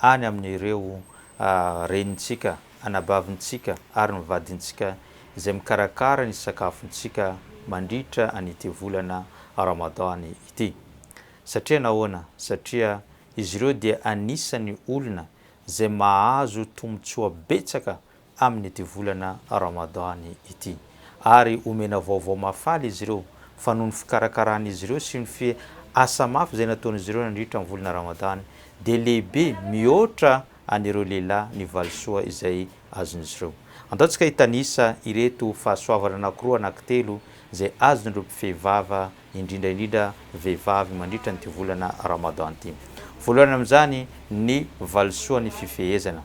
any amin'ireo renintsika, anabavintsika ary ny vadintsika izay mikarakara ny sakafontsika mandritra an'ity volana Ramadan ity. Satria nahoana? Satria izy ireo dia anisan'ny olona izay mahazo tombontsoa betsaka amin'ity volana Ramadan ity, ary homena vaovao mahafaly izy ireo fa noho ny fikarakaran'izy ireo sy ny asa mafy izay nataon'izy ireo nandritra ny volana Ramadan dia lehibe mihoatra an'ireo lehilahy ny valisoa izay azon'izy ireo. Andao tsika hitanisa ireto fahasoavana anankiroa na kitelo izay azon'ireo mpifehy vava indrindra indrindra vehivavy mandritra an'ity volana Ramadan ity. Voalohany amin'izany ny valisoa ny fifehezana.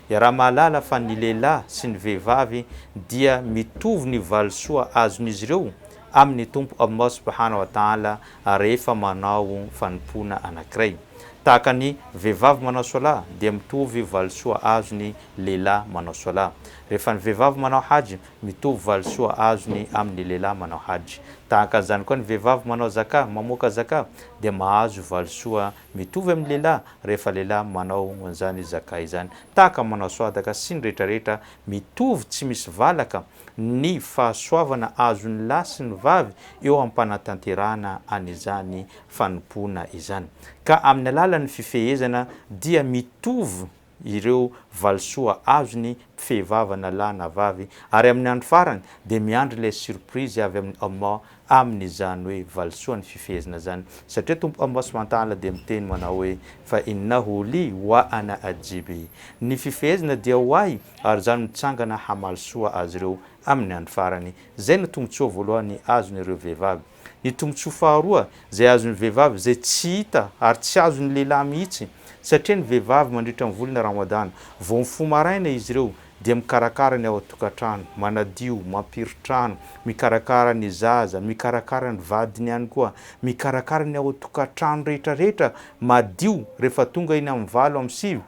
Iaraha-mahalala fa ny lehilahy sy ny vehivavy dia mitovy ny valisoa azon'izy ireo amin'ny Tompo Allah subhana wa ta'ala rehefa manao fanompoana anankiray. Tahaka ny vehivavy manao Swala dia mitovy valisoa azon'ny lehilahy manao Swala. Rehefa ny vehivavy manao Hajj Mitovy valisoa azony amin' ny lehilahy manao hajj. Tahaka an'izany koa ny vehivavy manao zakah, mamoaka zakah, dia mahazo valisoa mitovy amin' ny lehilahy rehefa lehilahy manao an'izany zakah izany. Tahaka ny manao soadaka sy ny rehetra rehetra, mitovy tsy misy valaka ny fahasoavana azon' ny lahy sy ny vavy eo am-panatanterahana an' izany fanompoana izany. Ka amin' ny alalan' ny fifehezana dia mitovy ireo valisoa azony mpifehy vava na lahy na vavy ary amin'ny andro farany dia miandry ilay surprise avy amin'ny Allah amin'izany hoe valisoany fifehezana izany satria Tompo Allah subhana wa ta'ala dia miteny manao hoe fa innahu li wa ana ajzibi ny fifehezana dia ho ahy ary izaho mitsangana hamaly soa azy ireo amin'ny andro farany izay no tombotsoa voalohany azon'ireo vehivavy Ny tombontsoa faharoa izay azon'ny vehivavy izay tsy hita ary tsy azon'ny lehilahy mihitsy satria ny vehivavy mandritra ny volana Ramadana vao mifoha maraina izy ireo dia mikarakara ny ao an-tokantrano, manadio, mampiry trano, mikarakara ny zaza, mikarakara ny vadiny ihany koa, mikarakara ny ao an-tokantrano rehetrarehetra madio rehefa tonga eny amin'ny valo amin'ny sivy,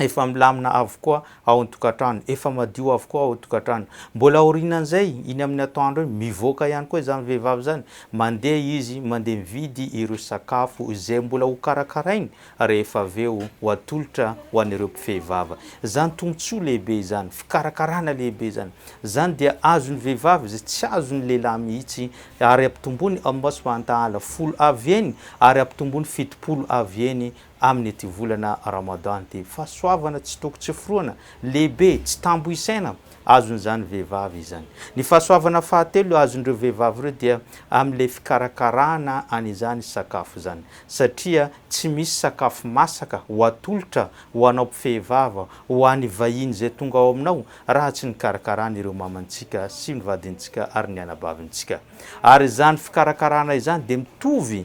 efa milamina avokoa ao an-tokantrano, efa madio avokoa ao an-tokantrano. Mbola aorianan'izay, iny amin'ny atoandro iny, mivoaka ihany koa izany vehivavy izany, mandeha izy, mandeha mividy ireo sakafo izay mbola hokarakarainy rehefa avy eo ho atolotra ho an'ireo mpifehy vava. Izany tombontsoa lehibe izany, fikarakarana lehibe izany. Izany dia azon'ny vehivavy izay tsy azon'ny lehilahy mihitsy, ary ampitomboiny amin'ny masom-pahantahala folo avy eny, ary ampitomboiny fitopolo avy eny amin' ity volana Ramadan ity. Fahasoavana tsy toko tsy foroana, lehibe, tsy tambo isaina, azon' izany vehivavy izany. Ny fahasoavana fahatelo azon' ireo vehivavy ireo dia amin' ilay fikarakarana an' izany sakafo izany, satria tsy misy sakafo masaka ho atolotra ho anao mpifehy vava, ho any vahiny izay tonga ao aminao, raha tsy nikarakarana ireo mamantsika sy ny vadintsika ary ny anabavintsika. Ary izany fikarakarana izany dia mitovy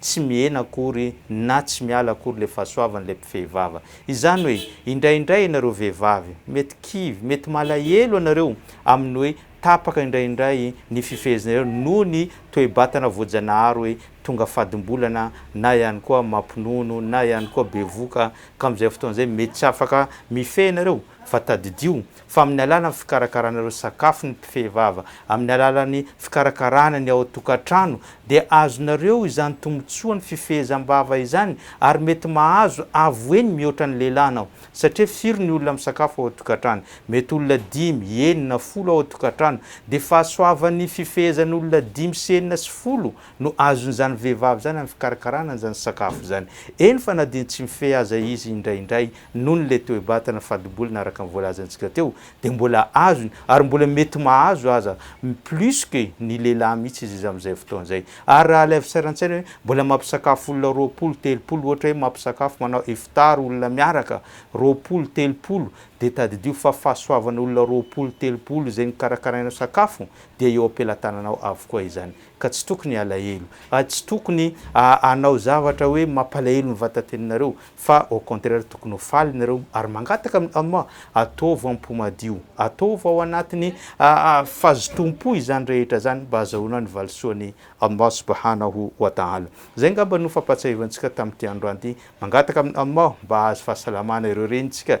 tsy mihena akory na tsy miala akory ilay fahasoavan'ilay mpifehy vava. Izany hoe, indraindray ianareo vehivavy, mety kivy, mety malahelo ianareo amin'ny hoe tapaka indraindray ny fifeheznareo noho ny toe-batana voajanahary hoe tonga fadim-bolana na ihany koa mampinono na ihany koa bevoka ka amin'izay fotoana izay mety tsy afaka mifehy ianareo fa tadidio fa amin'ny alalan'ny fikarakarana ireo sakafo ny mpifehy vava, amin'ny alalan'ny fikarakarana ny ao an-tokantrano dia azonareo izany tombontsoan'ny fifehezam-bava izany ary mety mahazo avo eny mihoatra ny lehilahy anao satria firy ny olona misakafo ao an-tokantrano? mety olona dimy, enina, folo ao an-tokantrano dia fahasoavan'ny fifehezan'olona dimy sy enina sy folo no azon'izany vehivavy izany amin'ny fikarakarana an'izany sakafo izany eny fa na dia tsy mifehy aza izy indraindray Nony le toe-batana fadi-bolana araka ny voalazantsika teo dia mbola azony ary mbola mety mahazo aza plus que ny lehilahy mihitsy izy amin'izay fotoana izay. Ary raha alaivo sary an-tsaina hoe mbola mampisakafo olona roapolo, telopolo ohatra hoe mampisakafo manao iftar olona miaraka roapolo, telopolo dia tadidio fa fahasoavana olona roapolo, telopolo izay nokarakarainao sakafo dia eo am-pelatananao avokoa izany. Ka tsy tokony alahelo. Ary tsy tokony hanao zavatra hoe mampalahelo ny vatateninareo, fa au contraire tokony ho faly nareo ary mangataka amin'i Allah, ataovy am-po madio, ataovy ao anatin'ny fazotoam-po izany rehetra izany mba hazahoana ny valisoan'i Allah Subhanahu wa Ta'ala. Izay angamba no fampahatsiahivantsika tamin'ity androany ity. Mangataka amin'i Allah mba hahazo fahasalamana ireo renintsika